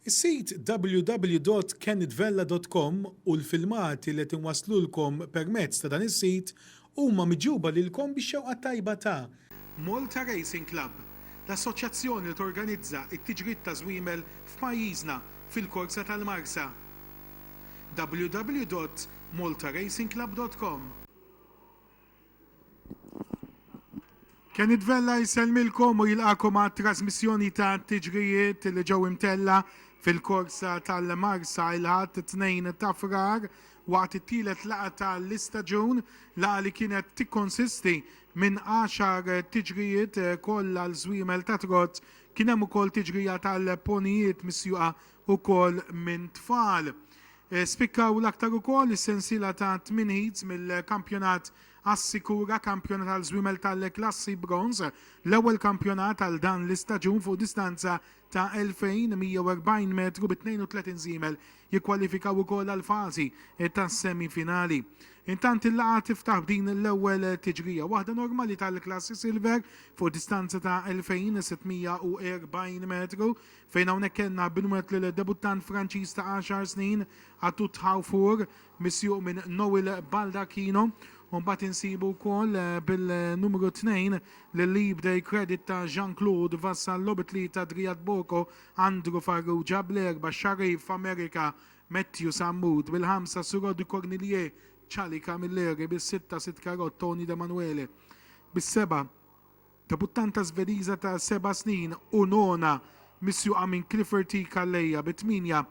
Is-sit www.kennitvella.com u l-filmati li qed inwasslulkom permezz ta' dan is-sit huma miġjuba lilkom bix-xewqa t-tajba ta'. Malta Racing Club, l-assoċjazzjoni li torganizza t-tiġrid ta' żwiemel f'pajjiżna fil-korsa tal-Marsa. www.maltaracingclub.com. Kenny Vella jsellmilkom u jilqakom għat trasmissjoni ta' tiġrijiet li ġew imtella fil-korsa tal-Marsa il-Ħadd 2 ta' Frar waqt it-tielet laqgħa tal-istaġun, laqgħa li kienet tikkonsisti minn għaxar tiġrijiet kollha l-żwiemel ta' trot, kien hemm ukoll tiġrija tal-ponijiet misjuqa ukoll minn tfal. Spikkaw l-aktar ukoll is-sensiela ta' tmien heats mill-kampjonat Assikura Kampjonat għal Żwiemel tal-Klassi Bronż, l-ewwel kampjonat għal dan l-istaġun fuq distanza ta' 2,140 metru bi 32 żiemel jikkwalifikaw ukoll għall-fażi tas-semi finali. Intant il-laqgħa tiftaħ b'din l-ewwel tiġrija, waħda normali tal-Klassi Silver fuq distanza ta' 2,640 metru fejn hawnhekk kellna binwett lill-debuttant Franċiż ta' għaxar snin, Atout Thauffour, misjuq minn Noel Baldacchino, u mbagħad insibu wkoll bil-numru tnejn lill-Leap Day Credit ta' Jean-Claude Vassallo bi tlieta Driat Boko, Andrew Farrugia, bl-erba' Sharif America, Matthew Sammut, bil-ħamsa Suraud de Cornillier, Charlie Camilleri, bis-sitta Sitkarot, Tony Demanuele, bis-seba'. Debuttanta Żvediża ta' seba' snin u nona misjuqa minn Clifford T. Calleja bi tmienja,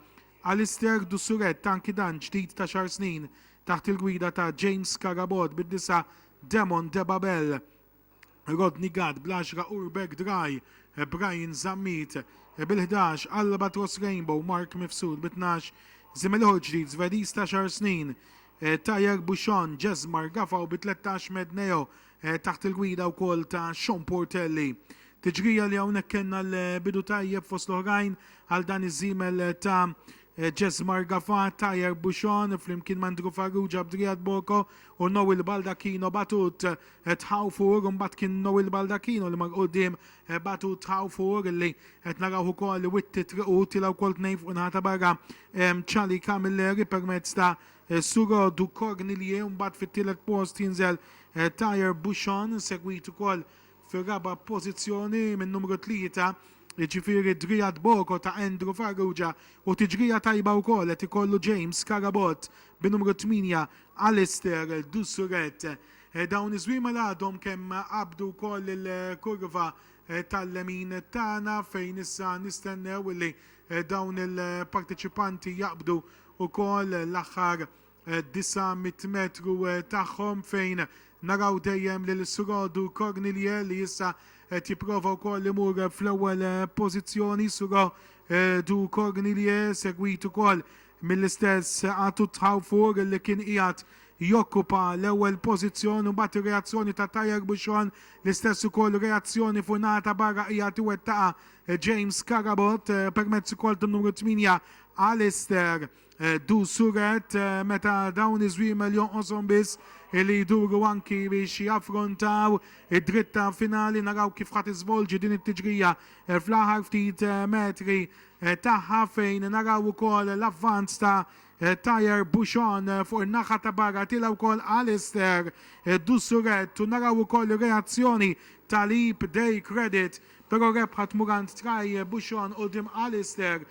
Alistair Dussuret anki dan ġdid ta' xahar snin taħt il-gwida ta' James Carabott bi disa', Demon De Babel, Rodney Gatt bl-għaxra Urbeck Dry, Brian Zammit bil-ħdax, Albatross Rainbow, Mark Mifsud bi tnax, żiemel ieħor ġdid Żvediż ta' xahar snin, Tajer Buchon, Jesmar Gafaw bi tlettax, Medneo, taħt il-gwida wkoll ta' Sean Portelli. Tiġrija li hawnhekk kellna l-bidu tajjeb fost l-oħrajn għal dan iż-żiemel ta' Jess Margafa, Tajer Buxon, flimkien ma' Andrew Farrugia b'Driad Boko u Noel Baldacchino Batut tħawfur, mbagħad kien Noel Baldacchino li mar qudiem Batut tħawfur li qed narawh ukoll witti triqu tilgħu wkoll tnejn fuq inħata barra Charlie Camilleri permezz ta' Is-Sur Du Cornillie u mbagħad fit-tielet post jinżel Thayer Bushon, segwit ukoll fir-raba' pożizzjoni minn numru tlieta, jiġifieri Driad Boko ta' Andrew Farrugia u tiġrija tajba wkoll qed ikollu James Carabott bi numru tmienja Alistair Du Surret. Dawn iż-żwiema li għadhom kemm qabdu wkoll il-kurva tal-lemin tagħna fejn issa nistennew illi Dawn il-parteċipanti jaqbdu wkoll l-aħħar 900 metru tagħhom fejn naraw dejjem lil Surodu Cornilie li issa qed jipprova wkoll imur fl-ewwel pożizzjoni. Suro du Cornilie segwit ukoll mill-istess Atut Haufur li kien qiegħed jokkupa l-ewwel pożizzjon u mbagħad ir-reazzjoni ta' Tayar Buchon l-istess ukoll reazzjoni fuq naħa ta' barra qiegħed iwettaqha James Carabott, permezz ukoll tan-numru 8 Alistair Dusuret meta dawn iż-żwiemel jonqoshom biss li jduru anki biex jaffrontaw id-dritta finali naraw kif ħa tiżvolġi din it-tiġrija fl-aħħar ftit metri tagħha fejn naraw ukoll l-avvanz ta' Thayer Bushon fuq in-naħa ta' barra tiela' wkoll Alistair Dusuret u naraw ukoll ir-reazzjoni ta' Leap Day Credit Però rebħa tmur għand Tray Buxon quddiem Alistair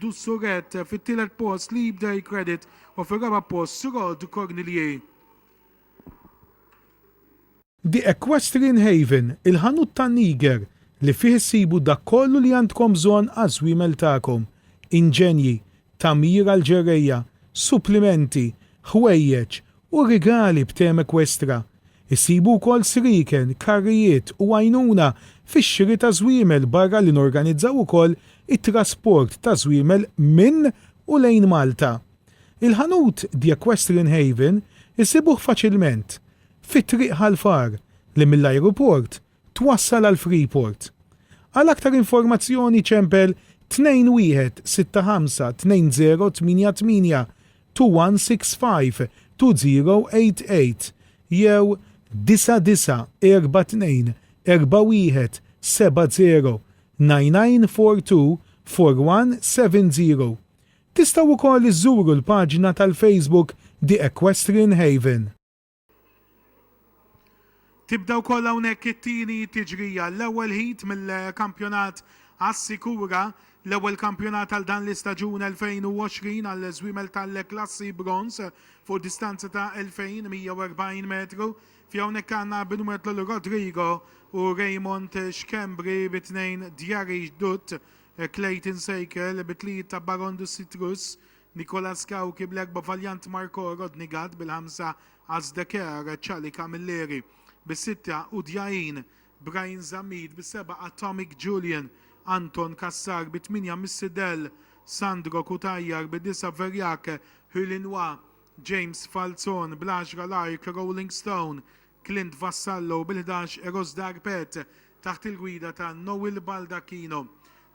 Du Souret, fit-tielet post Leap Day Credit u fir-raba' post Surod Cornelier. The Equestrian Haven, il-ħanut tan-niger li fih issibu dak kollu li għandkom bżonn għaż-żwiemel tagħkom, inġenji, tagħmir għall-ġerrejja, supplimenti, ħwejjeġ u rigali b'tema ekwestra. Issibu wkoll srieken, karrijiet u għajnuna fix-xiri ta' żwiemel barra li norganizzaw ukoll it-trasport ta' żwiemel minn u lejn Malta. Il-ħanut The Equestrian Haven issibuh faċilment fi Triq Ħal Far li mill-ajruport twassal għal Freeport. Għal aktar informazzjoni ċempel 21652088-21652088 jew 99424170. Tistgħu wkoll iżżuru l-paġna tal-Facebook The Equestrian Haven. Tibda wkoll hawnhekk it-tieni tiġrija, l-ewwel heat mill-kampjonat Assikura, l-ewwel kampjonat għal dan l-istaġun 2020 għall-żwiemel tal-klassi bronż fuq distanza ta' 2140 metru. Fi hawnhekk għandna Binuetlu Rodrigo u Raymond Schembri bi tnejn Djari Dutt, Clayton Sejkel bi tlieta Baron de Citrus, Nicolas Cauchi bl-erba' valjant Marco Rodnigat bil-ħamsa Azdeker Charlie Camilleri bis-sitta Udjain Bryan Zammit bis-sebgħa Atomic Julian Anton Cassar bit-tmienja Missy Dell Sandro Cutajar bid-disgħa Verjak Hulinois James Falzon bl-għaxra Lark Rolling Stone Clint Vassallo bil-ħdax Eros Dar Pet taħt il-gwida ta' Noel Baldacchino.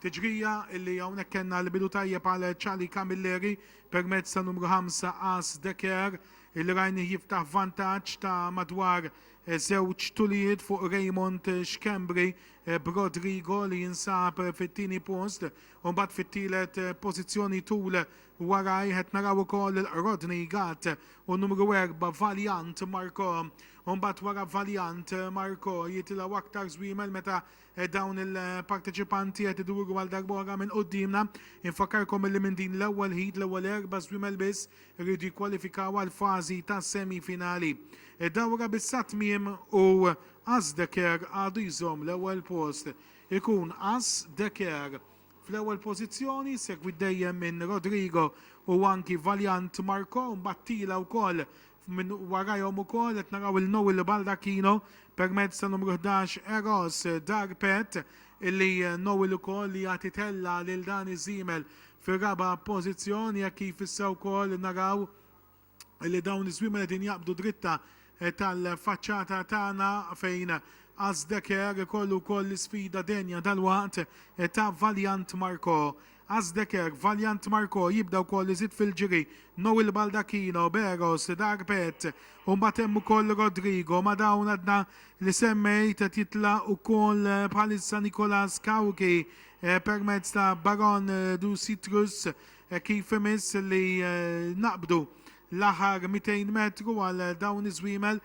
Tiġrija illi hawnhekk kellna l-bidu tajjeb għal Charlie Camilleri permezz ta' numru ħamsa Ace De Care illi rajnih jiftaħ vantaġġ ta' madwar żewġ tulijiet fuq Raymond Schembri b'Rodrigo li jinsab fit-tieni post u mbagħad fit-tielet pożizzjoni tul Warajh qed naraw ukoll il-Qrodni Gatt u numru erbgħa Valiant Marco. U mbagħad wara Valiant Marco jitilgħu aktar żwiemel meta dawn il-parteċipanti qed iduru għal darba oħra minn quddiemna. Infakkarkom illi minn din l-ewwel heat l-ewwel erba' żwiemel biss iridu jikkwalifikaw għall-fażi tas-semifinali. Id-dawra b'issa tmiem u As Decker għadu jżomm l-ewwel post. Ikun As Decker Fl-ewwel pożizzjoni, segwit dejjem minn Rodrigo u anki Valiant Marco, mbagħad tila wkoll minn warajhom ukoll qed naraw lil Noel Baldacchino permezz ta' numru ħdax Eros Darpet illi Noel ukoll li jagħti tellgħa lil Dani Zimel fir-raba' pożizzjoni hekk kif issa wkoll naraw li dawn iż-żwiemel qegħdin jaqbdu dritta tal-faċċata tagħna fejn Azdeker ikollu wkoll l-isfida denja dalwaqt ta' Valiant Marco. Azdeker, Valiant Marco jibda wkoll iżid fil-ġiri, Noel Baldacchino, Beros, Darpet, u mbagħad hemm ukoll Rodrigo ma' dawn għadna li semmejt qed jitlaq ukoll bħalissa Nicolas Cauchi permezz ta' Baron du Citrus Hekk kif imiss li naqbdu l-aħħar 200 metru għal dawn iż-żwiemel,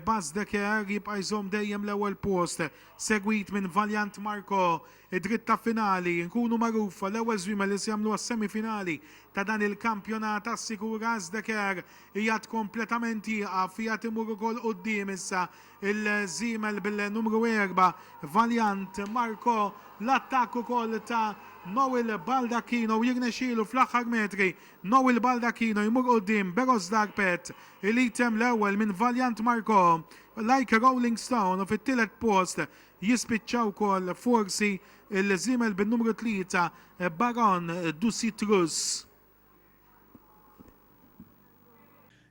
Bas de Care jibqa' jżomm dejjem l-ewwel post, segwit minn Valiant Marco. Id-dritt ta' finali, nkunu magħrufa l-ewwel żwiemel li se jagħmlu għas-semifinali ta' dan il-kampjonat assikura għaż de Care. Qiegħed kompletament jieqaf, qiegħed imur ukoll quddiem issa. Il-żiemel bil-numru erba' Valiant Marco l-attakk ukoll ta' Noel Baldacchino u jirnexxielu fl-aħħar metri Noel Baldacchino jmur quddiem Berosdar Pett li temm l-ewwel minn Valiant Marco Like Rolling Stone u fit-tielet post jispiċċa wkoll forsi l-żiemel bin-numru tlieta Baron du Citrus.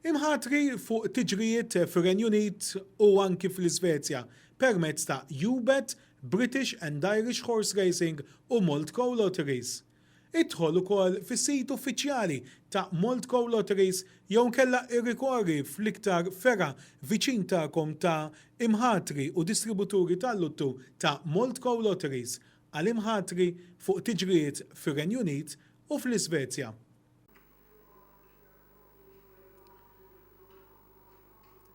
Imħatri fuq tiġrijiet fir-Renju Unit u anki fl-Isvezja permezz ta' UBET, British and Irish Horse Racing u Moldco Lotteries. Idħol ukoll fis-sit uffiċjali ta' Moldco Lotteries jew inkella irrikorri fl-iktar fergħa viċin tagħkom ta' imħatri u distributuri tal-luttu ta' Moldco Lotteries għal imħatri fuq tiġrijiet fir-Renju Unit u fl-Isvezja.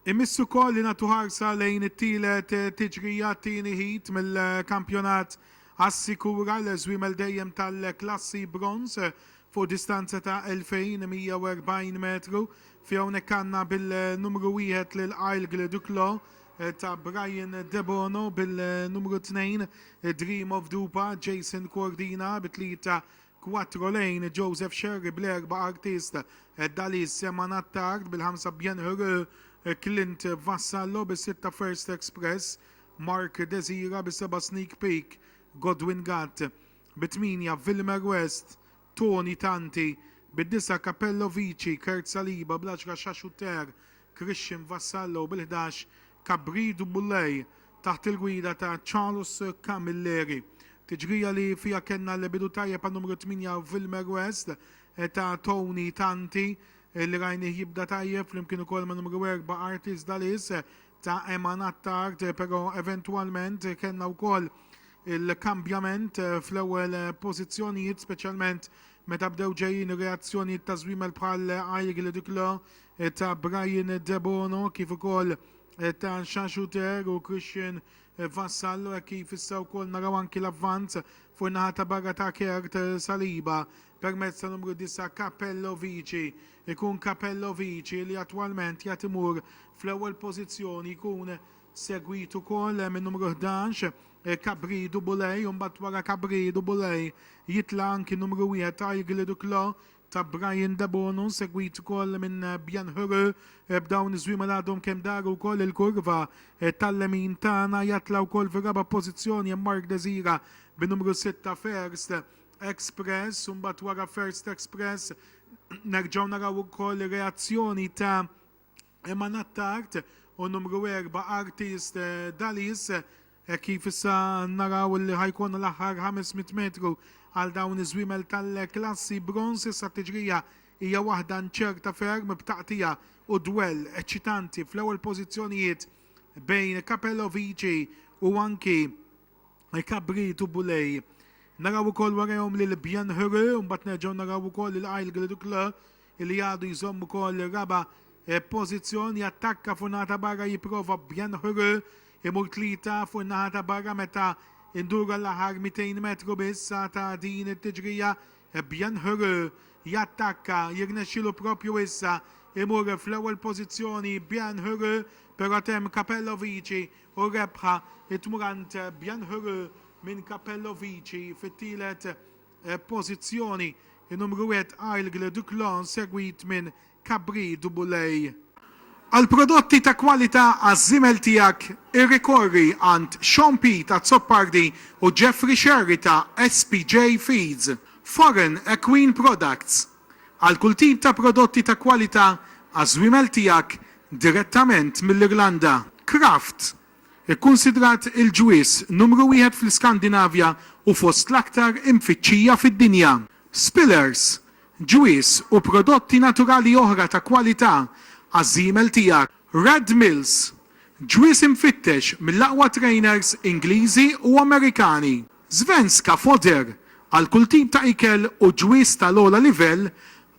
Imiss ukoll li nagħtu ħarsa lejn it-tielet tiġrija, t-tieni heat mill-kampjonat Assikura l-żwiemel dejjem tal-klassi bronż fuq distanza ta' 2140 metru fi hawnhekk għandna bil-numru wieħed lil Aigle Duclos ta' Brian Debono bil-numru 2 Dream of Dupa Jason Cordina bi tlieta Quattro lejn Joseph Scerri bl-erba' Artist, Dalis, Seman Attard bil-ħamsa Bien Heureux, Clint, Vassallo bis-sitta First Express, Mark Desira bis-seba' Sneak Peek, Godwin Gatt bit-tmienja Vilmer West, Tony Tanti bid-disgħa Capello Vici, Kurt Saliba bl-għaxra Xaxutter, Christian Vassallo bil-ħdax Kabrid Boulay taħt il-gwida ta' Charles Camilleri. Tiġrija li fiha kellna l-bidu tajjeb għan-numru 8 Villmer West ta' Tony Tanti li rajnih jibda tajjeb flimkien ukoll man-numru 4 Artis Dalis ta' Eman Attard però eventwalment kellna wkoll il-kambjament fl-ewwel pożizzjonijiet speċjalment meta bdew ġejjin reazzjonijiet ta' żwiemel bħal Aigle Duclos ta' Brian Debono kif ukoll ta' Xaxu Ter u Christian Vassallo hekk kif issa wkoll naraw anki l-avvanz fuq in-naħa ta' barra ta' Kurt Saliba permezz ta' numru disa' Capello Vici. Ikun Capello Vici li attwalment jgħad imur fl-ewwel pożizzjoni jkun segwit ukoll min-numru ħdax Cabridu Bulej u mbagħad wara Cabridu Bulej jitla' anki numru wieħed Aigli Duclos ta' Brian Debono segwit ukoll minn Bjan Huru b'dawn iż-żwiema li għadhom kemm daru wkoll il-kurva tal-lemin tagħna jatla' wkoll fir-raba' pożizzjoni hemm Mark Desira bi numru sitta First Express u mbagħad wara First Express nerġgħu naraw ukoll reazzjoni ta' Emma Nattard u numru erba' Artist Dalis. Hekk kif issa naraw li ħa jkollna l-aħħar 500 metru għal dawn iż-żwiemel tal-klassi bronż, issa t-tiġrija hija waħda nċerta ferm b'taqtigħa u dwell eċċitanti fl-ewwel pożizzjonijiet bejn Capello Vici u anki Cabrit u Boulay. Naraw ukoll warajhom lil Bienheureux u mbagħad nerġgħu naraw ukoll lil Aigle du Clos. li għadu jżomm ukoll ir-raba' pożizzjoni, jattakka fuq in-naħa ta' barra jipprova b'Byanhuru imur tlieta fuq in-naħa ta' barra meta nduru għall-aħħar 200 metru biss ta' din it-tiġrija, Byanhuru jattakka, jirnexxielu proprju issa, imur fl-ewwel pożizzjoni Byanhuru però temm Capello Vici u r-rebħa tmur għand Byanhuru minn Capello Vici fit-tielet Pożizzjoni numru wieħed Aigle du Clon segwit minn Cabri du Boulay. Għal prodotti ta' kwalità għaż-żiemel tiegħek irrikorri għand Sean Pete Azzopardi u Jeffrey Scerri ta' SPJ Feeds, Foreign Equine Products, għal kull tip ta' prodotti ta' kwalità għaż-żwiemel tiegħek direttament mill-Irlanda, Kraft, Ikkunsidrat il-ġwież numru wieħed fl-Iskandinavja u fost l-aktar imfittxija fid-dinja. Spillers, ġwież u prodotti naturali oħra ta' kwalità għaż-żiemel tiegħek. Red Mills, ġwież imfittex mill-aqwa trejners Ingliżi u Amerikani. Svenska Foder, għal kull tip ta' ikel u ġwież tal-ogħla livell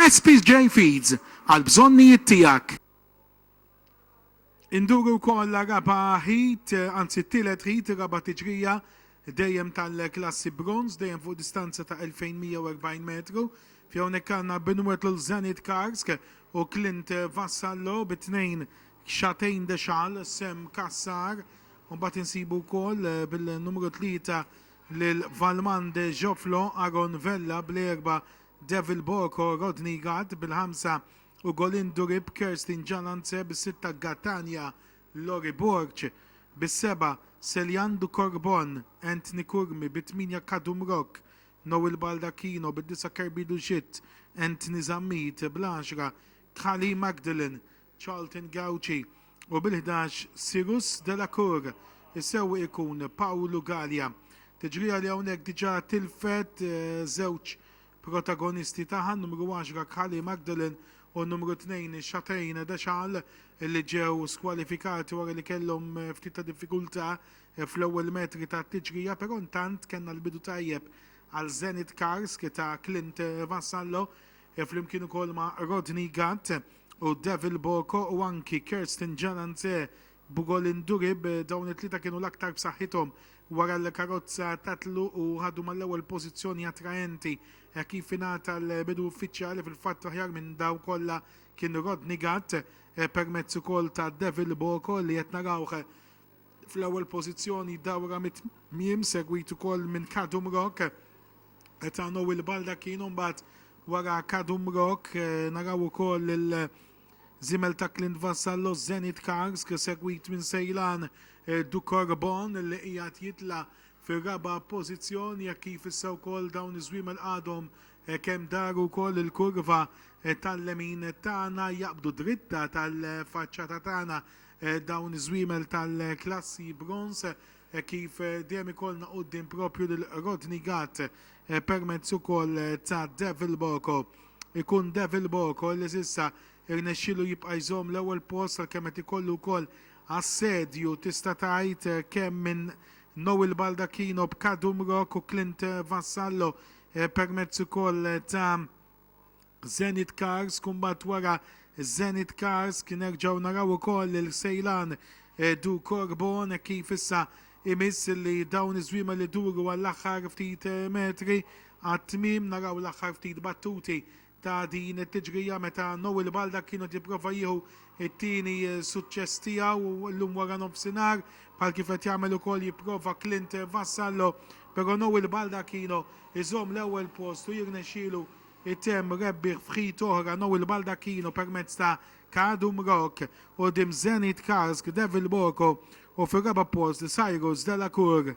Espj Feeds għall-bżonnijiet tiegħek. Induru wkoll għar-raba' heat, anzi t-tielet heat, ir-raba' tiġrija dejjem tal-klassi bronze, dejjem fuq distanza ta' 2,140 metru, fi hawnhekk għandna Benoît Lul Zenit Karsk u Clint Vassallo bit-tnejn Xatein Dexal, Sam Cassar, u mbagħad insibu wkoll bil-numru tlieta lil Valmande Jofflo, Aaron Vella bl-erba' Devil Boko, Rodney Gatt, bil-ħamsa, u Golindu Rip, Kerstin Jalance, bis-sitta, Gatania, Lori Borg, bis-sebgħa, Celiandu Corbon, Anthony Curmi, bit-tmienja, Kadum Rock, Noel Baldacchino, bid-disgħa, Kerbidu Schitt, Anthony Zammit, bl-għaxra, Khalil Magdalen, Charlton Gauci u bil-ħdax Cyrus Delacour, is-sewwieq ikun Pawlu Galea. Tiġrija li hawnhekk diġà tilfet żewġ protagonisti tagħha, n-numru għaxra Khalil Magdalen u n-numru tnejn Chatain Deschal li ġew skwalifikati wara li kellhom ftit ta' diffikultà fl-ewwel metri tat-tiġrija, però intant kellna l-bidu tajjeb għal Zenit Karsk ta' Clint Vassallo. Hi flimkien ukoll ma' Rodney Gatt u Devil Boko u anki Kirsten Jalanze Bugolin Durib, dawn it-tlieta kienu l-aktar b'saħħithom wara l-karozza Tatlu u ħadu mal-ewwel pożizzjoni attraenti. Hekk kif ingħata l-bidu uffiċjali fil-fatt l-aħjar minn dawn kollha kien Rodney Gatt permezz ukoll ta' Devil Boko li qed narawh fl-ewwel pożizzjoni dawra mit-tmiem segwit ukoll minn Kadum Rock. Etano u l-Baldacchino mbagħad wara Kadum Rock naraw ukoll il- Zimel ta' Clint Vassallo Zenit Kars segwit minn Sejlan Dukorbon li qiegħed jitla' fir-raba' pożizzjoni hekk kif issa wkoll dawn iż-żwiemel għadhom kemm daru wkoll il-kurva tal-lemin tagħna jaqbdu dritta tal-faċċata tagħna dawn iż-żwiemel tal-klassi bronż hekk kif dejjem ikollna quddiem proprju lil Rodney Gatt permezz ukoll ta' Devil Boko. Ikun Devil Boko li s'issa rnexxielu jibqa' jżomm l-ewwel post għalkemm qed ikollu wkoll assedju tista' tgħid kemm minn Noel Baldacchino b'Kadum Rock u Clint Vassallo permezz ukoll ta' Zenit Cars kumbatt wara Zenit Cars kien nerġgħu naraw ukoll lil Sejlan Du Corbon hekk kif issa imiss li dawn iż-żwiema li duru għall-aħħar ftit metri għat-tmiem naraw l-aħħar ftit battuti ta' din it-tiġrija meta Noel Balda kienu qed jipprova jieħu It-tieni suċċess tiegħu llum waranofsinhar, bħal kif qed jagħmel ukoll jipprova Clint Vassallo, però Noel Baldacchino jżomm l-ewwel post u jirnexxielu jtemm rebbieħ f'heat oħra Noel Baldacchino permezz ta' Kadum Rock quddiem Zenit Karsk, Devil Boko u fir-raba' post Cyrus Delacour.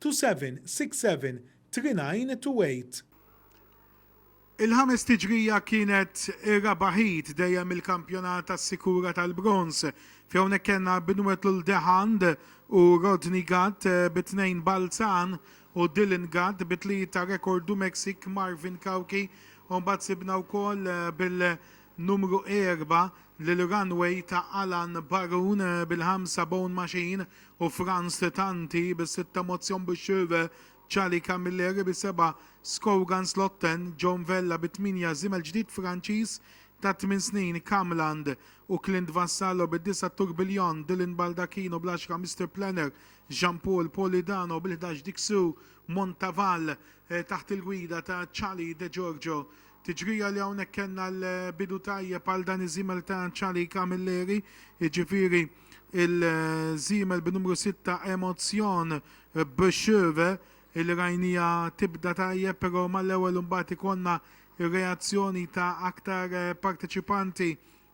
2767 3928. Il-ħames tiġrija kienet ir-raba' heat dejjem mill-kampjonat għas-sikura tal-bronż fi hawnhekk kellna Binwetlul de Haan u Rodney Gatt bi tnejn Balzan u Dylan Gatt bi tlieta Rekordu Mexique Marvin Cauchi u mbagħad sibna wkoll bil-numru erba' lil Runway ta' Alan Barun bil-ħamsa Bone Machine u Frans Tanti bi sitta Motion bi Schöwe, Charlie Camilleri bi seba', Scogan Slotten, John Vella bi tmienja Żiemel ġdid Franċiż ta' tmien snin, Camland, u Clint Vassallo bi disa' Tourbillon, Dylan Baldacchino bl-għaxra Mister Planner, Jean Paul Polidano bil-ħdax Dixu Montaval taħt il-gwida ta' Charlie De Giorgio. Tiġrija li hawnhekk kellna l-bidu tajjeb għal dan iż-żiemel ta' Charlie Camilleri, jiġifieri l-żiemel bin-numru sitta Emotion B'Cheve li rajniha tibda tajjeb però mal-ewwel imbagħad ikollna r-reazzjoni ta' aktar parteċipanti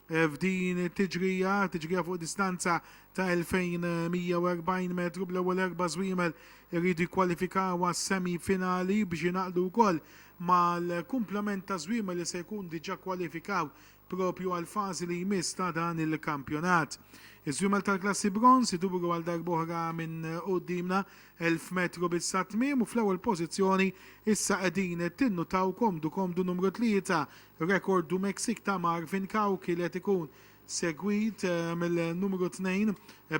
F'din it-tiġrija, tiġrija fuq distanza ta' 2140 metru bl-ewwel erba' żwiemel iridu jikkwalifikaw għas-semi finali biex jingħaqdu wkoll mal-kumplament ta' żwiemel li se jkun diġà kwalifikaw proprju għall-fażi li jmiss ta' dan il-kampjonat. Iż-żwiemel tal-klassi bronż iduru għal darb'oħra minn quddiemna 1000 metru biss għat-tmiem u fl-ewwel pożizzjoni issa qegħdin tinnutaw komdu komdu numru tlieta Rekord du Mexique ta' Marvin Cao kielet ikun segwit mill-numru tnejn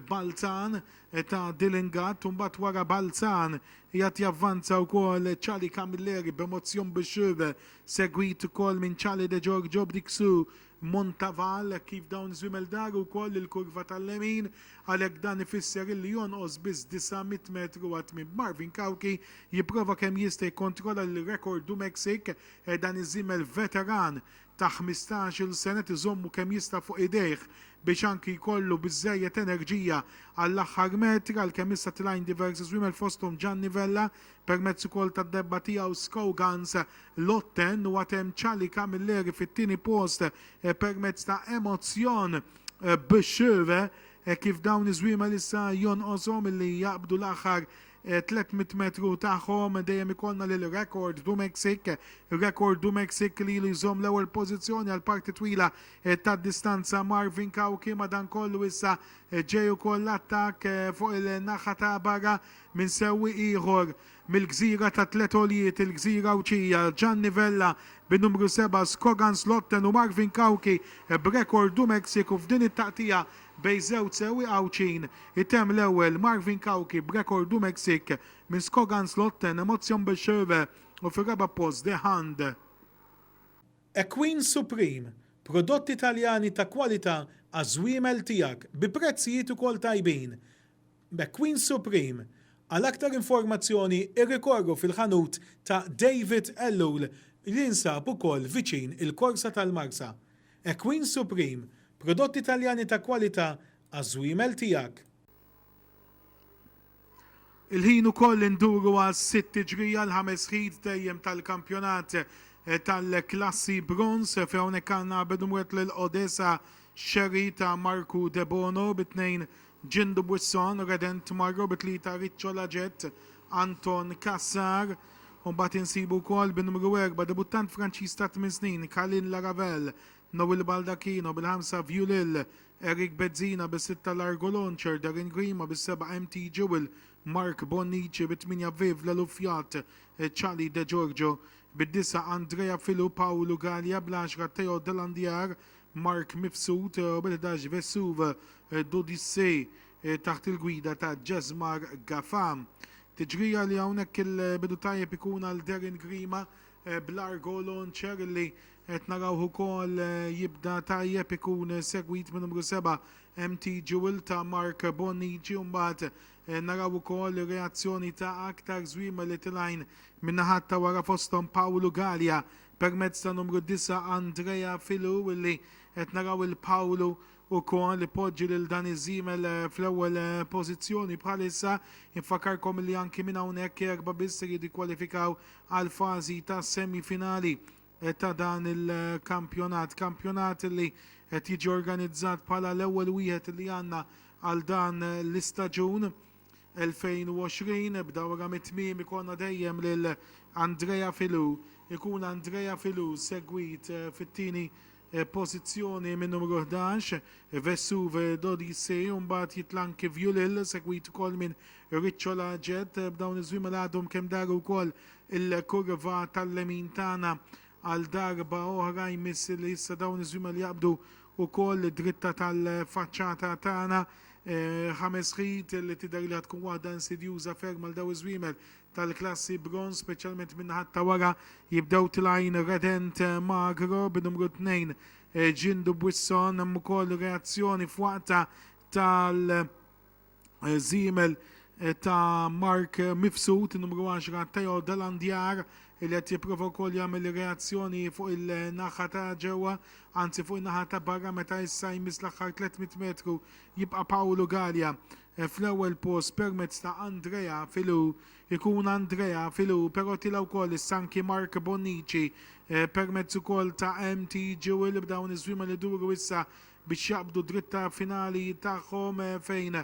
Balzan ta' Dylan Gatt u mbagħad wara Balzan qiegħed javvanza wkoll Charlie Camilleri b'Emotion Bishop segwit ukoll minn Charlie De Giorgio b'dik su Montaval hekk kif dawn iż-żwiemel daru wkoll il-kurva tal-lemin għalhekk dan ifisser illi jonqos biss 900 metru għat-tmiem b'Marvin Cao jipprova kemm jista' jikkontrolla lil Rekord du Mexique Dan iż-żiemel veteran ta' ħmistax-il sena qed iżommu kemm jista' fuq idejh biex anki jkollu biżżejjed enerġija għall-aħħar metr għalkemm issa tlajn diversi żwiemel fosthom Gianni Vella permezz ukoll tad-debba tiegħu Scougans Lotten u għad hemm Charlie Camilleri fit-tieni post permezz ta' Emozion B'Sure kif dawn iż-żwiemel issa jonqoshom li jaqbdu l-aħħar 300 metru tagħhom dejjem ikollna lil Record du Mexique. Record du Mexique li ilu jżomm l-ewwel pożizzjoni għal parti twila tad-distanza Marvin Cauchi madankollu issa ġej ukoll attakk fuq il-naħa ta' barra minn sewwieq ieħor mill-gżira tat-tliet għoljiet, il-gżira Għawdxija, Gianni Vella bin-numru seba', Skogan Slotten u Marvin Cauchi b'Record du Mexique u f'din it-taqtigħa Bejn żewġ sewwieq Għawdxin, itemm l-ewwel Marvin Cauchi b'rekord u Mexic minn Skoganslotten Emotion Becherve u fir-raba' post The Hand. A Queen Supreme, prodotti Taljani ta' kwalità għaż-żwiemel tiegħek bi prezzijiet ukoll tajbin. McQueen Supreme. Għal aktar informazzjoni irrikorru fil-ħanut ta' David Ellul li jinsab ukoll viċin il-Korsa tal-Marsa. EQUEEN Supreme, prodotti Taljani ta' kwalità għaż-żwiemel tiegħek. Il-ħin ukoll li nduru għas-sitt tiġrija, l-ħames ħid dejjem tal-kampjonat tal-klassi bronż, fejn hawnhekk għandna Bedumwet lil Odesa Scerri ta' Marku Debono bi tnejn Jean Dubuisson redent marru bi tlieta Riccio Lagette, Anton Cassar u mbagħad insibu wkoll bin-numru erba' debuttant Franċiż ta' tmien snin Calin Laravel, Noel Baldacchino bil-ħamsa Viulil, Eric Bezzina bis-sitta Largo Launcher, Darren Grima bis-seba' MT Jewel, Mark Bonnici bit-tmienja Viv Lelufjat, Charlie De Giorgio bid-disgħa Andrea Filu, Paolo Galea bl-għaxra Theo Delandiar, Mark Mifsud u Bernadash Vesuv, D'Odyssée, taħt il-gwida ta' Jesmar Gafa. Tiġrija li hawnhekk il-bidu tajjeb ikun għal Darren Grima bl-Argo Launcher illi qed narawh ukoll jibda tajjeb ikun segwit minn numru seba' MT Jewel ta' Mark Bonnici u mbagħad naraw ukoll ir-reazzjoni ta' aktar żwiemel li tilgħin min-naħat ta' wara fosthom Paolo Galea Permezz ta' numru disa' Andrea Filu illi qed naraw il Pawlu ukoll ipoġġi lil dan iż-żiemel fl-ewwel pożizzjoni bħalissa. Infakkarkom illi anki minn hawnhekk erba' biss ser jiddikwalifikaw għall-fażi ta' semi finali ta' dan il-kampjonat. Kampjonat illi qed jiġi organizzat bħala l-ewwel wieħed illi għandna għal dan l-istaġun. 2020 Ebda wara mit-tmiem ikollna dejjem lil Andrea Filou. Ikun Andrea Filou segwit fit-tieni pożizzjoni min-numru 11, Vesuv Dodise, u mbagħad Jitlanki Viulil segwit ukoll minn Ricciola Jett. B'dawn iż-żwiemel għadhom kemm daru wkoll il-kurva tal-lemin tagħna. Għal darba oħra jmiss li issa dawn iż-żwiemel jaqbdu wkoll id-dritta tal-faċċata tagħna. Ħames ħit li tidher li ħa tkun waħda insidjuża ferm għal dawn iż-żwiemel tal-klassi Bronze, speċjalment min-naħat ta' wara. Jibdew tlgħin Redent Magro bi numru tnejn Jindu Buisson. Hemm ukoll reazzjoni f'waqtha tal. żiemel ta' Mark Mifsud, numru 10 Theo Delandjar li qed jipprova wkoll jagħmel reazzjoni fuq il-naħa ta' ġewwa, anzi fuq in-naħa ta' barra meta issa jmiss l-aħħar 300 metru jibqa' Pawlu Galea fl-ewwel post permezz ta' Andrea Filou. Ikun Andrea Filou però tila' wkoll is-Sanki Mark Bonnici permezz ukoll ta' MT Jewel b'dawn iż-żwiemel iduru issa biex jaqbdu d-dritt finali tagħhom fejn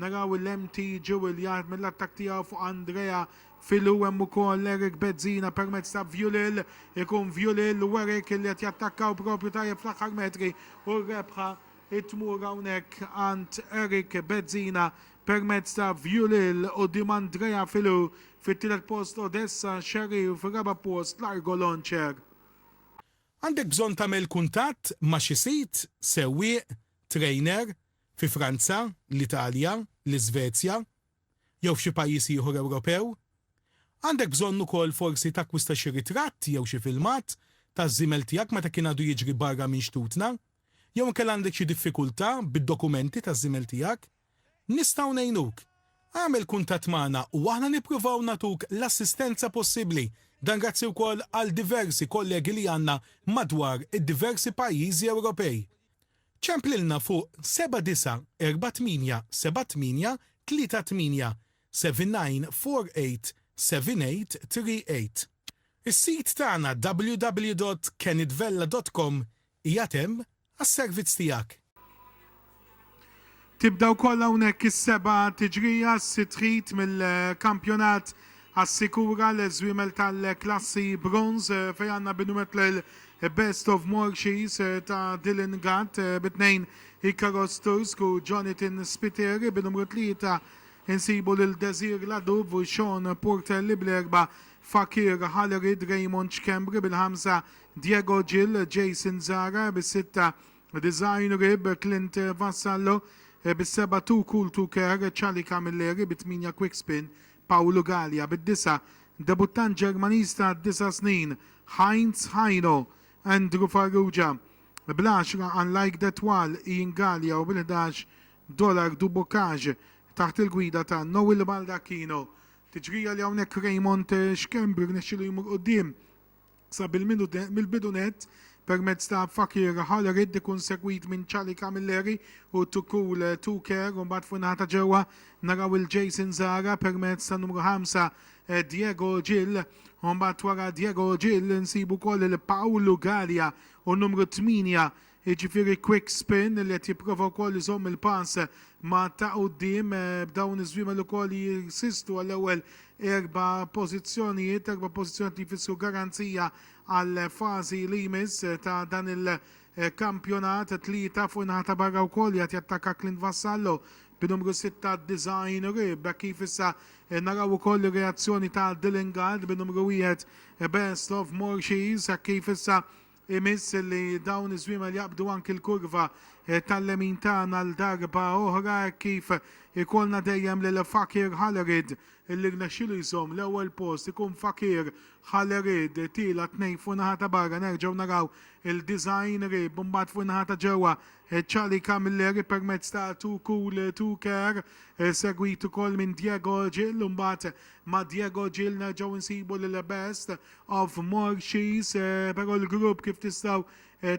naraw il-MT Jewell jaħdem mill-attakk tiegħu fuq Andrea Filu hemm ukoll Eric Bezzina permezz ta' Vjulil ikun Vjulil u Eric li qed jattakkaw propju tajjeb fl-aħħar metri u r-rebħa tmur hawnhekk għand Eric Bezzina permezz ta' Vjulil quddiem Andrea Filu fit-tielet post Odessa Xerri u fir-raba' post Largo Loncer. Għandek bżonn tagħmel kuntatt ma' xi sid, sewwieq, trainer, fi Franza, l-Italja, l-Iżvezja, jew f'xi pajjiż ieħor Ewropew? Għandek bżonn ukoll forsi takkwista xi ritratt jew xi filmat taż-żiemel tiegħek meta kien għadu jiġri barra minn xtutna? Jew inkella għandek xi diffikultà bid-dokumenti taż-żiemel tiegħek? Nistgħu ngħinuk? Agħmel kuntatt magħna u aħna nippruvaw nagħtuk l-assistenza possibbli. Dan grazzi wkoll għal diversi kollegi li għandna madwar id-diversi pajjiżi Ewropej. Ċemplilna fuq 79487838 79487838. Is-sit tagħna www.kenitvella.com qiegħed hemm Għas-servizz tiegħek. Tibda wkoll hawnhekk is-seba' tiġrija, s-sitt heat mill-kampjonat Assikura l-żwiemel tal-klassi Bronze fejn għandna binumet lil Best of Morshies ta' Dylan Gatt bi tnejn Ikaros Tursk u Jonathan Spiteri, bi numru tlieta insibu lil Desir Ladub u Sean Portelli bl-erba' Fakir Halerid, Raymond Schembri bil-ħamsa Diego Gil, Jason Zara, bis-sitta, Design Rib, Clint Vassallo, bis-seba', Too Cool To Care, Charlie Camilleri, bit-tmienja, Quickspin, Paolo Galea, bid-disa', debuttant Ġermaniż ta' disa' snin, Heinz Haino, Andrew Farrugia, bl-għaxra, Unlike That Wall, Ian Galea u bil-ħdax, Dollar Du Bocage, taħt il-gwida ta' Noel Baldacchino. Tiġrija li hawnhekk Raymond Schembri rnexxielu jmur quddiem. sa mill-bidu nett, permezz ta' Fakir Halarid ikun segwit minn Charlie Camilleri u Too Cool Too Care u mbagħad fuq in-naħa ta' ġewwa naraw il Jason Zahra permezz ta' numru 5 Diego Gil u mbagħad wara Diego Gil insibu wkoll lil Paolo Galea u numru 8 jiġifieri Quick Spin li qed jipprova wkoll iżomm il-pass ma' ta' quddiem b'dawn iż-żwiemel ukoll li jinsistu għall-ewwel erba' pożizzjonijiet, erba' pożizzjonijiet li jfissru garanzija għall-fażi li jmiss ta' dan il-kampjonat. Tlieta fuq in-naħa ta' barra wkoll qiegħed jattakka Clint Vassallo bin-numru sitta Design Rib. Hekk kif issa naraw ukoll ir-reazzjoni ta' Dillinghard bin-numru wieħed Best of Morshies. Hekk kif issa Imiss li dawn iż-żwiemel jaqbdu anki l-kurva tal-lemin tagħna għal darba oħra hekk kif ikollna dejjem lil Fakir Hallerid li rnexxielu jżomm l-ewwel post ikun Fakir Hallerid tielat tnejn fuq naħa ta' barra nerġgħu naraw il-90 qrib imbagħad fuq naħa ta' ġewwa Charlie Camilleri permezz ta' Too Cool Too Care segwit ukoll minn Diego Gil imbagħad ma' Diego Gil nerġgħu nsibu lil Best of Morxież, però l-grupp kif tistgħu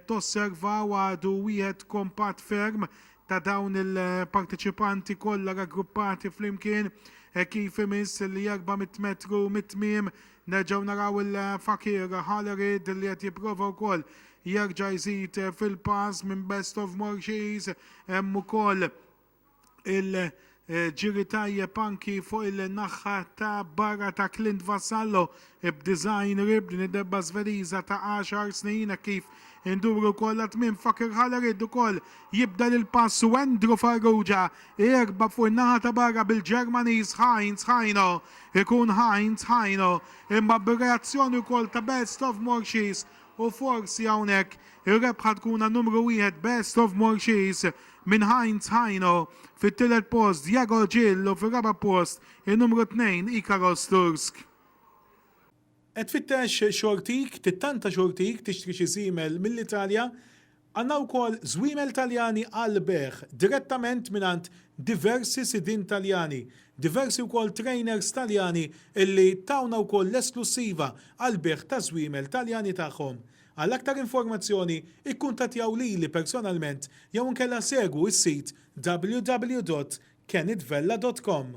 tosservaw għadu wieħed kompatt ferm ta' dawn il-parteċipanti kollha raggruppati flimkien hekk kif imiss li erba' mitt metru mit-tmiem nerġgħu naraw il-fakir Hallerid li qed jipprova wkoll jerġa' jżid fil-pass minn Best of Morxież hemm ukoll il-ġiri tajjeb anki fuq il-naħħa ta' barra ta' Clint Vassallo b'design rib din id-debba Svediża ta' 10 snin hekk kif induru wkoll għat-tmiem Fakir Halarid ukoll jibdel il-pass u Andrew Farrugia jerba' fuq in-naħa ta' barra bil-Ġermaniż Heinz Haino. Ikun Heinz Haino imma bir-reazzjoni wkoll ta' Best of Morshi's U forsi hawnhekk ir-rebħa tkun għal numru wieħed Best of Morxies minn Heinz Haino, fit-tielet post Diago Gil u fir-raba' post in-numru tnejn Ikaros Tursk. Qed tfittex xortik? Tittanta xortik tixtri xi żiemel mill-Italja? Għandna wkoll żwiemel Taljani għall-bejgħ direttament mingħand diversi sidien Taljani, diversi wkoll trainers Taljani illi tawna wkoll l-esklussiva għall-bejgħ taż-żwiemel Taljani tagħhom. Għal aktar informazzjoni ikkuntattjaw lili personalment jew inkella segwu s-sit www.kennetvella.com.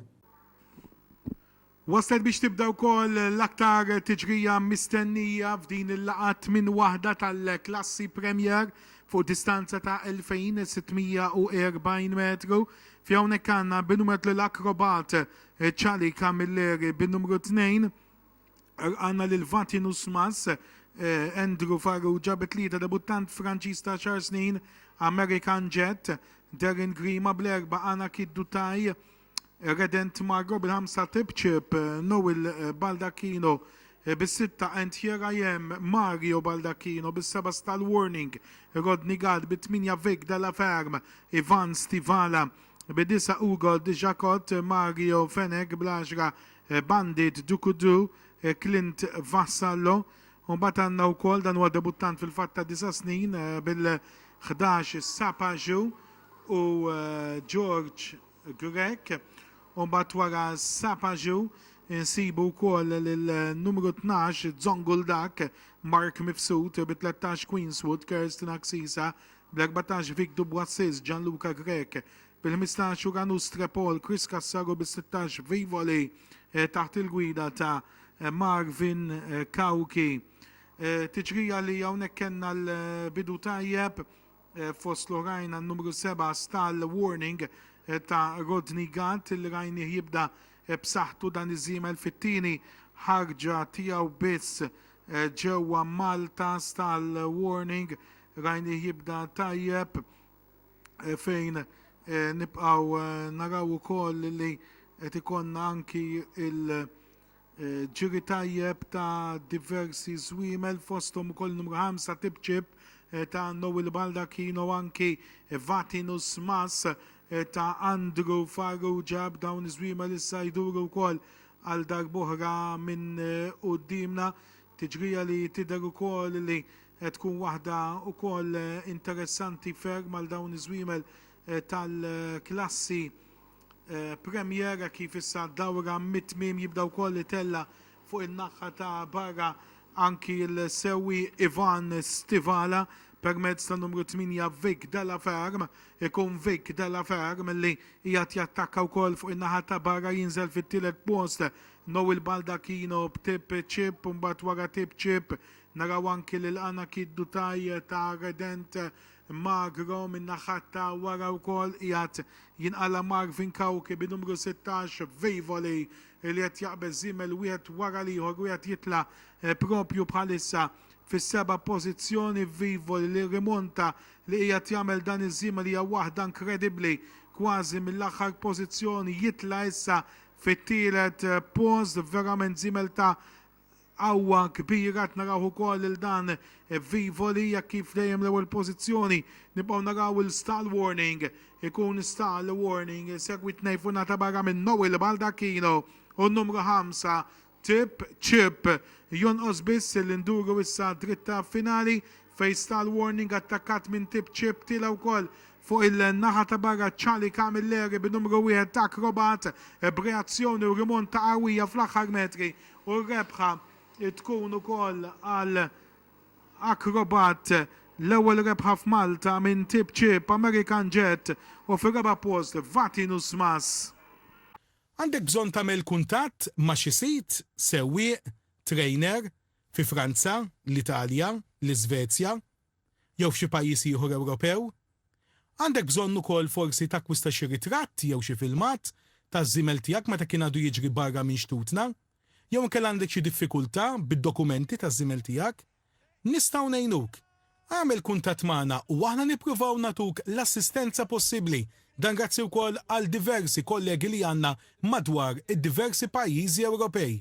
Waslet biex tibda wkoll l-aktar tiġrija mistennija f'din il-laqgħa t-tmien waħda tal-klassi Premier fuq distanza ta' 2,640 metru fih hawnhekk għandna bin-numertlu l-akrobat Charlie Camilleri bin-numru tnejn għandna lil Vatin Usmas, Andrew Farrugia bi tlieta debuttant Franċiż ta' għaxar snin American Jet, Darren Grima bl-erbgħa Anakid Dutai, Redent Margo bil-ħamsa Tibċib, Noel Baldacchino bis-sitta and here I am Mario Baldacchino bis-seba Stal Warning, Rodney Gad bit-tminja Vic Della Ferm, Ivan Stivala bid-disa Ugo Dixakot, Mario Fenech bl-għaxra Bandit Dukudu, Clint Vassallo. Mbagħad għandna wkoll dan huwa debuttant fil-fatt ta' disa' snin bil-11 Sapaju u George Grech, u mbagħad wara Sapaju nsibu wkoll lil numru tnax Zonguldak, Mark Mifsud, bi tlettax Queenswood, Kirsten Axisa, bl-erbatax Vic Duboissis, Gianluca Grech, bil-ħmistax Uranu Strepol, Chris Cassar u bis-sittax Vivoli taħt il-gwida ta' Marvin Cauchi. Tiġrija li hawnhekk kellna l-bidu tajjeb. fost l-oħrajn għan numru 7 Stall Warning ta' Rodney Gatt li rajnih jibda b'saħħtu dan iż-żiemel fit-tieni ħarġa tiegħu biss ġewwa Malta. Stall Warning rajnih jibda tajjeb fejn nibqgħu naraw ukoll li qed ikollna anki ġiri tajjeb ta' diversi żwiemel fosthom ukoll numru 5 Tipċip ta' Noel Baldacchino anki Vatinus Mas ta' Andrew Farrugia b'dawn iż-żwiemel issa jduru wkoll għal darb'oħra minn quddiemna. Tiġrija li tidher ukoll li qed tkun waħda wkoll interessanti ferm għal dawn iż-żwiemel tal-klassi Premier hekk kif issa d-dawra mit-tmiem jibda wkoll itella' fuq in-naħħa ta' barra anki l-sewwieq Ivan Stivala permezz tan-numru 8 Vic Della Ferm. Ikun Vic Della Ferm li qiegħed jattakka wkoll fuq in-naħa ta' barra jinżel fit-tielet post Noel Baldacchino b'Tip Chip u mbagħad wara Tip Chip naraw anki lil Anakid Dutai ta' Redent Magro min-naħa ta' wara wkoll qiegħed jinqala' Marvin Cauchi bi numru 16 Vejvoli li qed jaqbeż żiemel wieħed wara l-ieħor u qiegħed jitla' proprju bħalissa fis-seba' pożizzjoni. Vejvoli li rrimonta li qiegħed jagħmel dan iż-żiemel hija waħda inkredibbli kważi mill-aħħar pożizzjoni jitla' issa fit-tielet post verament żiemel ta' Qawwa kbira qed narawh ukoll lil dan Vivo li jekk hi f'dejjem l-ewwel pożizzjoni nibqgħu naraw il-stall warning ikun stall warning segwit tnejn fuq ngħata barra minn Noel Baldacchino u n-numru ħamsa Tip Chip. Jonqos biss li nduru issa għad-dritta finali fejn stall warning attakkat minn Tip Chip tiela' wkoll fuq il-naħa ta' barra Charlie Camilleri bin-numru wieħed Acrobat b'reazzjoni u rimonta qawwija fl-aħħar metri u r-rebħa tkun ukoll għal Acrobat, l-ewwel rebħa f'Malta minn tip ċieb American Jet u fir-raba' post Vati Nusmas. Għandek bżonn tagħmel kuntatt ma' xi sid, sewwieq, trainer, fi Franza, l-Italja, l-Iżvezja, jew f'xi pajjiż ieħor Ewropew. Għandek bżonn ukoll forsi takkwista xi ritratt jew xi filmat taż-żiemel tiegħek meta kien għadu jiġri barra minn xtutna. Jew inkella għandek xi diffikultà bid-dokumenti taż-żiemel tiegħek. Nistgħu ngħinuk. Agħmel kuntatt magħna u aħna nippruvaw nagħtuk l-assistenza possibbli. Dan grazzi wkoll għal diversi kollegi li għandna madwar id-diversi pajjiżi Ewropej.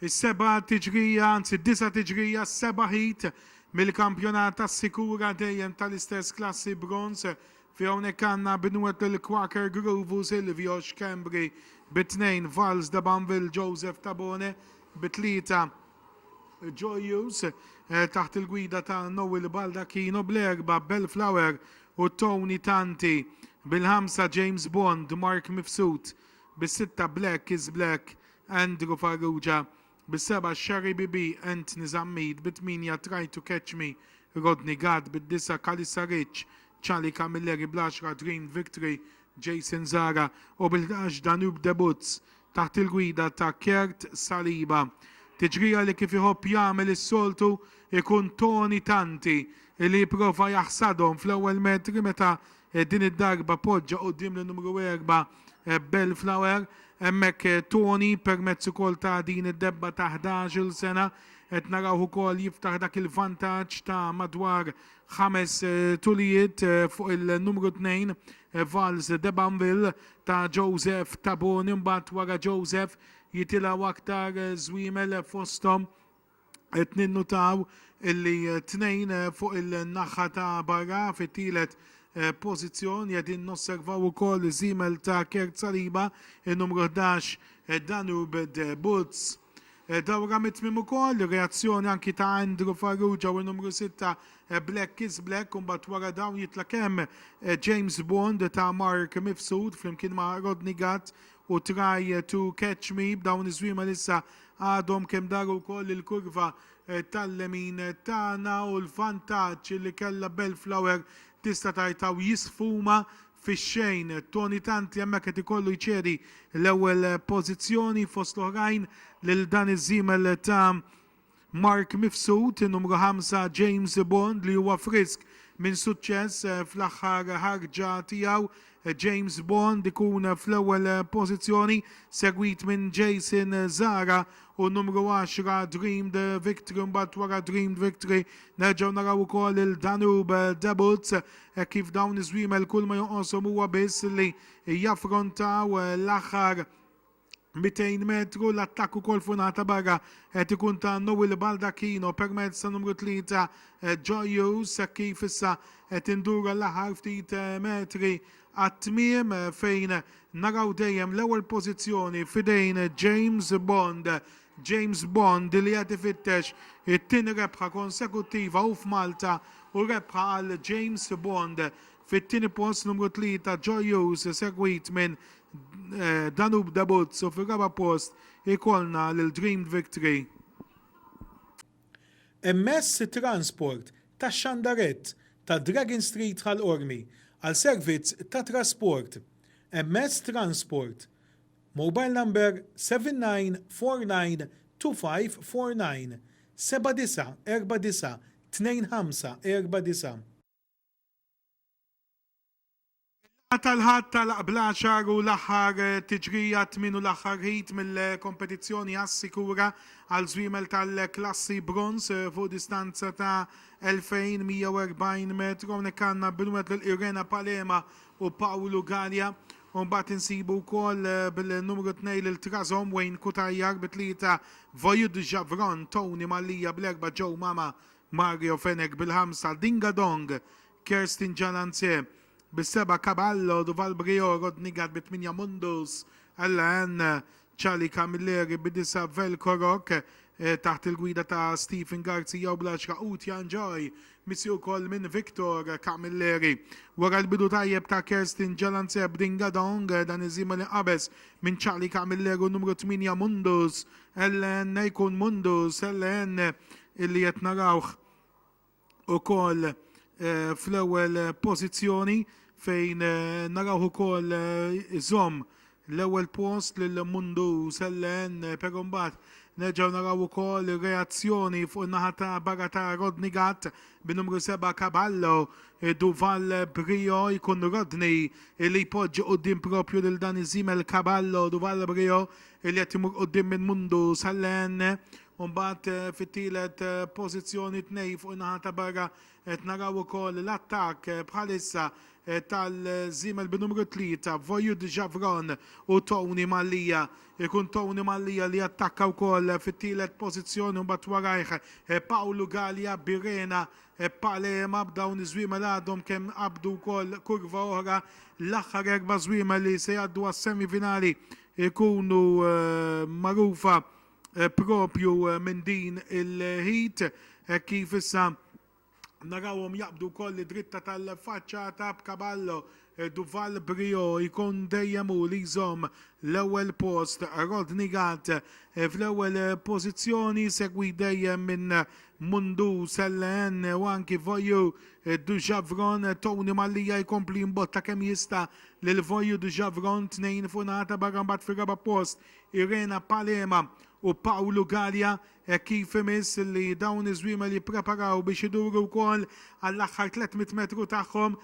Is-seba' tiġrija, anzi d-disa' tiġrija, s-seba' heat mill-kampjonat assikura dejjem tal-istess klassi bronż fi hawnhekk għandna Binwet lil Quaker Groove u Silvio Schembri bi tnejn, Valls de Banville, Joseph Tabone bi tlieta, Joyous taħt il-gwida ta' Noel Baldacchino bl-erbgħa, Bellflower u Tony Tanti bil-ħamsa, James Bond, Mark Mifsud bis-sitta, Black is Black, Andrew Farrugia bi seba' Sherry BB, Anthony Zammit bi tmienja Try to Catch Me, Rodney Gatt bid-disgħa Calissa Rich, Charlie Camilleri bl-għaxra Dream Victory, Jayson Zara u bil-ħdax Danube Debuts taħt il-gwida ta' Kurt Saliba. Tiġrija li kif iħobb jagħmel is-soltu jkun Tony Tanti li jipprova jaħsadhom fl-ewwel metri meta Din id-darba poġġa quddiem l-numru erba' Bellflower. Hemmhekk Tony permezz ukoll ta' din id-debba ta' ħdax-il sena qed narawh ukoll jiftaħ dak il-vantaġġ ta' madwar ħames tulijiet fuq il-numru tnejn Valse de Banville ta' Joseph Tabone. Imbagħad wara Joseph jitilgħu aktar żwiemel fosthom Qed ninnutaw illi tnejn fuq il-naħħa ta' barra fit-tielet pożizzjoni qegħdin nosservaw ukoll iż-żiemel ta' Kert Saliba, in-numru 11 Danube de Butz. Dawra mit-tmiem ukoll, reazzjoni anki ta' Andrew Farrugia u n-numru sitta Black is Black u mbagħad wara dawn jitlaq hemm James Bond ta' Mark Mifsud flimkien ma' Rodney Gatt u Try to Catch Me b'dawn iż-żwiema li issa għadhom kemm daru wkoll il-kurva tal-lemin tagħna u l-vantaġġ li kellha Belflower tista' tgħid hawn jisfuma fix-xejn. Tony Tanti hemmhekk qed ikollu jċedi l-ewwel pożizzjoni fost l-oħrajn lil dan iż-żiemel ta' Mark Mifsud, numru ħamsa, James Bond li huwa frisk minn suċċess fl-aħħar ħarġa tiegħu, James Bond ikun fl-ewwel pożizzjoni, segwit minn Jason Zara u numru għaxra, Dreamed Victory, mbagħad wara Dreamed Victory nerġgħu naraw ukoll il-Danube Debuts, hekk kif dawn iż-żwiemel kulma joqoshom huwa biss li jaffrontaw l-aħħar 200 metru l-attakk ukoll funata barra qed ikun ta' Noel Baldacchino permezz ta' numru 3 eh, Joyu kif issa qed indura l-aħħar ftit eh, metri għat-tmiem eh, fejn naraw dejjem l-ewwel pożizzjoni fidejn James Bond. James Bond li qed ifittex it-tieni rebħa konsekuttiva u f'Malta u rebħa għal James Bond Fit-tieni post numru tlieta Joy Hughes segwit minn Danube Debutz u fir-raba' post ikollna lil Dreamed Victory. Emess it-transport tax-xandarett ta' Dragon Street Ħal Qormi għal servizz ta' trasport Emess Transport Mobile number 79492549 79492549. Il-laqgħa tal-Ħadd tagħlaq bl-għaxar u l-aħħar tiġrija t-tmien u l-aħħar heat mill-kompetizzjoni assikura għal żwiemel tal-klassi bronż fuq distanza ta' 2,140 metru. Hawnhekk għandna binwet lil Irena Palema u Pawlu Galea. U mbagħad insibu wkoll bil-numru 2 lil Trazom Wayne Kutajjar bi tlieta Vojud Javron, Tony Mallia bl-erba' Joe Mama Mario Fenech bil-ħamsa, Dinga Dong, Kerstin Jalanzé, bis-seba' Caballo, Duval Briot, Rodney Gatt bit-tmienja Mundus, Ella Ann, Charlie Camilleri bid-disgħa Velko Rock, taħt il-gwida ta' Stephen Garzija u bl-għaxra Utja Enjoy, missieq ukoll minn Victor Camilleri. Wara l-bidu tajjeb ta' Kerstin Jalanzé b'Dinga Dong, dan iż-żiemel inqabeż minn Charlie Camilleri u n-numru tmienja Mundus, Ellen jkun Mundus, Ellen illi qed narawh ukoll fl-ewwel pożizzjoni fejn narawh ukoll iżomm l-ewwel post lil Mundus, Ellen, però mbagħad nerġgħu naraw ukoll ir-reazzjoni fuq in-naħa ta' barra ta' Rodney Gatt bin-numru seba' Caballo, Duval Brio, jkun Rodney illi jpoġġi quddiem proprju lil dan iż-żiemel Caballo, Duval Brio li qed imur quddiem minn Mundu Sallen. U mbagħad fit-tielet pożizzjoni tnej fuq in-naħa ta' barra qed naraw ukoll l-attakk bħalissa tal-żiemel bin-numru tlieta Voyud Javron u Tony Mallia. Ikun Tony Mallia li jattakka wkoll fit-tielet pożizzjoni u mbagħad warajh Pawlu Galea Birena Palema b'dawn iż-żwiemel għadhom kemm qabdu wkoll kurva oħra. L-aħħar erba' żwiemel li se jgħaddu għas-semifinali ikunu magħrufa proprju minn din il-heat hekk kif issa narawhom jaqbdu wkoll id-dritta tal-faċċata b'Caballo, Duval Briot jkun dejjem hu li jżomm l-ewwel post, Rodney Gatt fl-ewwel pożizzjoni segwit dejjem minn Mundu, Selleenne u anki Voyou, Dujavron, Tony Mallia jkompli jimbotta kemm jista' lil Voyu Djavron tnejn fuq naħa ta' barra mbagħad fir-raba' post Irena Palema u Pawlu Galea hekk kif imiss li dawn iż-żwiemel jippreparaw biex iduru wkoll għall-aħħar 300 metru tagħhom.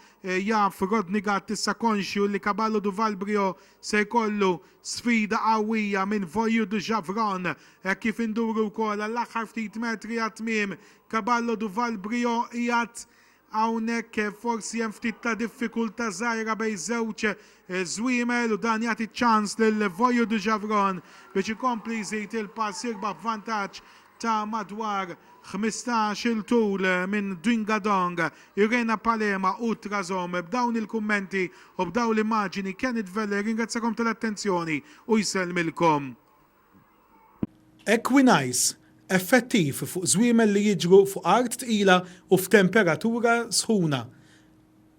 Jaf Rodney Gatt issa konxju li Caballo do Valbrio se jkollu sfida qawwija minn Voyu Djavron hekk kif induru wkoll għall-aħħar ftit metri għat-tmiem Caballo do Valbrio qiegħed Hawnhekk forsi hemm ftit ta' diffikultà żgħira bejn żewġ żwiemel u dan jagħti ċ-ċans lil Vojo de Javron biex ikompli jżid il-pass jirbaħ b'vantaġġ ta' madwar ħmistax il tul minn Dyngadong, Irena Palema u Trazom. B'dawn il-kummenti u b'dawn l-immaġini Kenneth Vella jirringrazzjakom tal-attenzjoni u jsellmilkom. Equinais, effettiv fuq żwiemel li jiġru fuq art tqila u f'temperatura sħuna.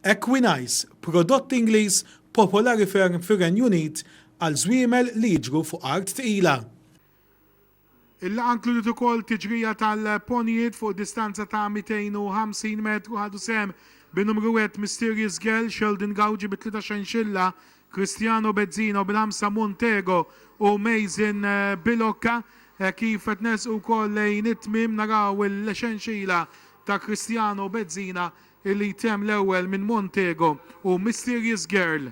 Equinais, prodott Ingliż popolari ferm fir-Renju Unit għal żwiemel li jiġru fuq art tqila. Il-laqgħa nkludiet ukoll tiġrija tal-ponjijiet fuq distanza ta' 250 metru. Ħadu sehem bi numru wieħed Mysterious Girl, Sheldon Gauge bi tlieta xenxilla, Cristiano Bezzino bil-ħamsa Montego u Mason Bilocca. Kif qed nersqu wkoll lejn it-tmiem naraw il-xenxila ta' Cristiano Bezzina illi jtemm l-ewwel minn Montego u Mysterious Girl.